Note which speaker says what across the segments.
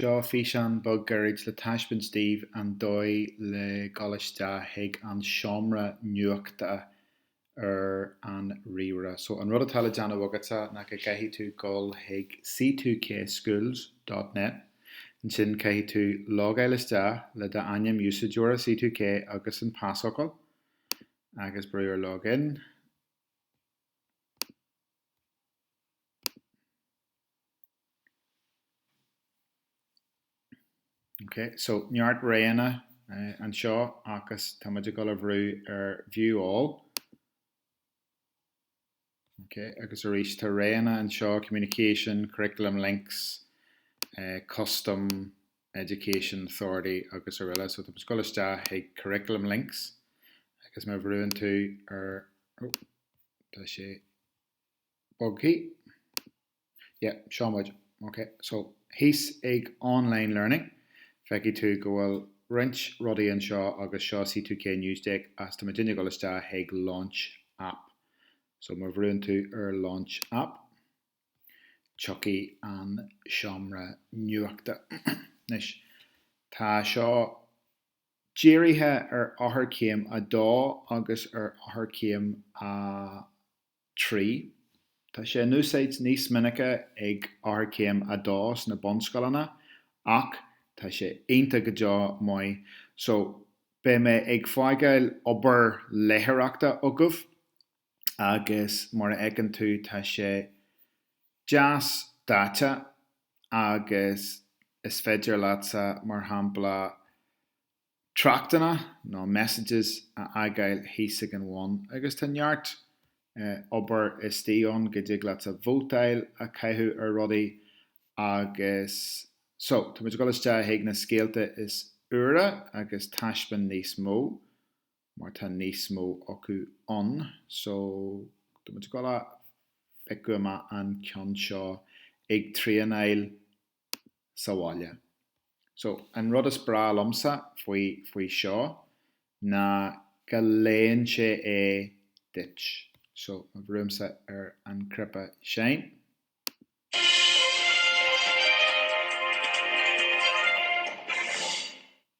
Speaker 1: Seo físeán beag gairid le taispeáint daoibh an dóigh le dul isteach chuig an seomra nuachta ar an ríomhaire. So an rud atá le déanamh agatsa ná go gcaithfidh tú dul chuig c2kschools dot net. Ansin caithfidh tú logáil isteach le d'ainm úsáideora C2K agus an pasfhocal agus brú ar log in. Ok, so neart roghanna anseo agus tá muid ag dul a bhrú ar View All. Ok, agus arís tá roghanna anseo, Communication, Curriculum Links, eh, Custom, Education Authority agus araile. So tá muid ag dul isteach chuig Curriculum Links agus má bhrúann tú ar, oh, tá sé, bogtha. Yeah, seo muid. Ok, so thíos ag Online Learning, feicfidh tú go bhfuil roinnt rudaí anseo agus seo C2K News Desk agus tá muidinne ag dul isteach chuig Launch App. So má bhrúann tú ar Launch App, tiocfaidh an seomra nuachta. Anois, tá seo dírithe ar eochairchéim a dó agus ar eochairchéim a 3. Tá sé in úsáid níos minice ag eochairchéim a 2 sna bunscoileanna ach tá sé iontach go deo maith so beidh mé ag fágáil obair léitheoireachta agaibh agus mar a fheiceann tú tá sé deas daite agus is féidir leatsa mar shampla tráchtanna nó messages a fhágáil thíos ag an bhun agus tá neart obair istigh ann go dtig leatsa vótáil a chaitheamh ar rudaí agus so tá muid ag dul isteach chuig na scéalta is úire agus taispeáin níos mó mar tá níos mó acu ann so tá muid ag dul a phiocadh amach an ceann seo ag traenáil sa bhaile. So, an rud is breá liomsa faoi, faoi seo ná go léann sé é duit. So, má bhrúimse ar an chnaipe sin.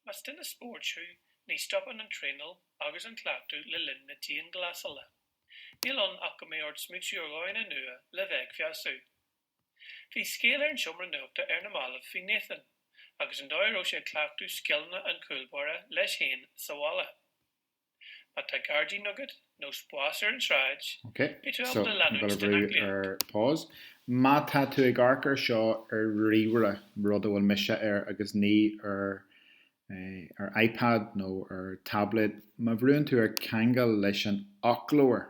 Speaker 2: Más duine spóirt thú, ní stopann an traenáil agus an cleachtadh le linn na dianghlasála. Níl ann ach go mbeidh ort smaointiú ar dhóigheanna nua le bheith ag feabhsú. Bhí scéal ar an seomra nuachta ar na mallaibh faoi Nathan agus an dóigh a raibh sé ag cleachtadh scileanna an chúlbáire leis féin sa bhaile. Má tá gairdín agat nó spás ar an tsráid, okay,
Speaker 1: so pause. Má tá tú ag amharc air seo ar ríomhaire, rud a bhfuil mise air agus ní ar iPad nó ar tablet, má bhrúnn tú ar ceangal leis an fhoclóir,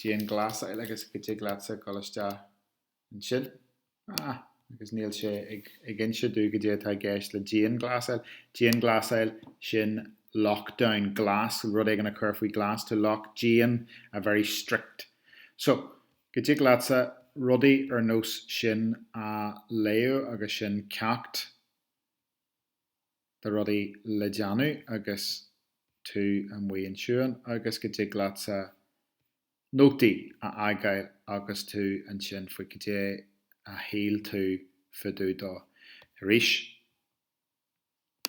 Speaker 1: Dianghlasáil agus go dtig leatsa dul isteach ansin. Ah, agus níl sé ag inse domh goidé atá i gceist le dianghlasáil. Dianghlasáil, sin lockdown. Glas, rud éigin a chur faoi ghlas. To lock, dian, a very strict. So, go dtig leatsa rudaí ar nós sin a léamh agus sin ceacht. de rudaí le déanamh agus tú amuigh ansiúd agus go dtig leatsa nótaí a fhágáil agus tú ansin faoi goidé a shíl tú fá dtaobh dó. Arís,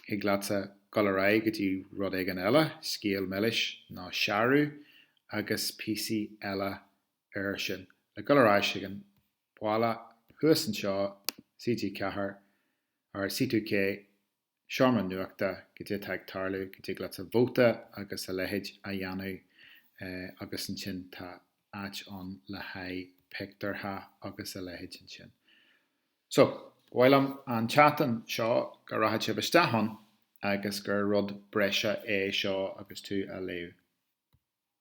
Speaker 1: thig leatsa dul ar aghaidh go dtí rud éigin eile, scéal milis nó searbh agus píosaí eile air sin le dul ar ais ag an bhaile, thuas anseo, CG Ceathair or C2K, seomra nuachta, goidé atá ag tarlú, go dtig leatsa vóta agus a leithéid a dhéanamh agus ansin tá áit ann le haghaidh pictiúrtha agus a leithéid ansin. So, ba mhaith liom an tseachtain seo go rachadh sibh isteach ann agus gur rud breise é seo agus tú á léamh.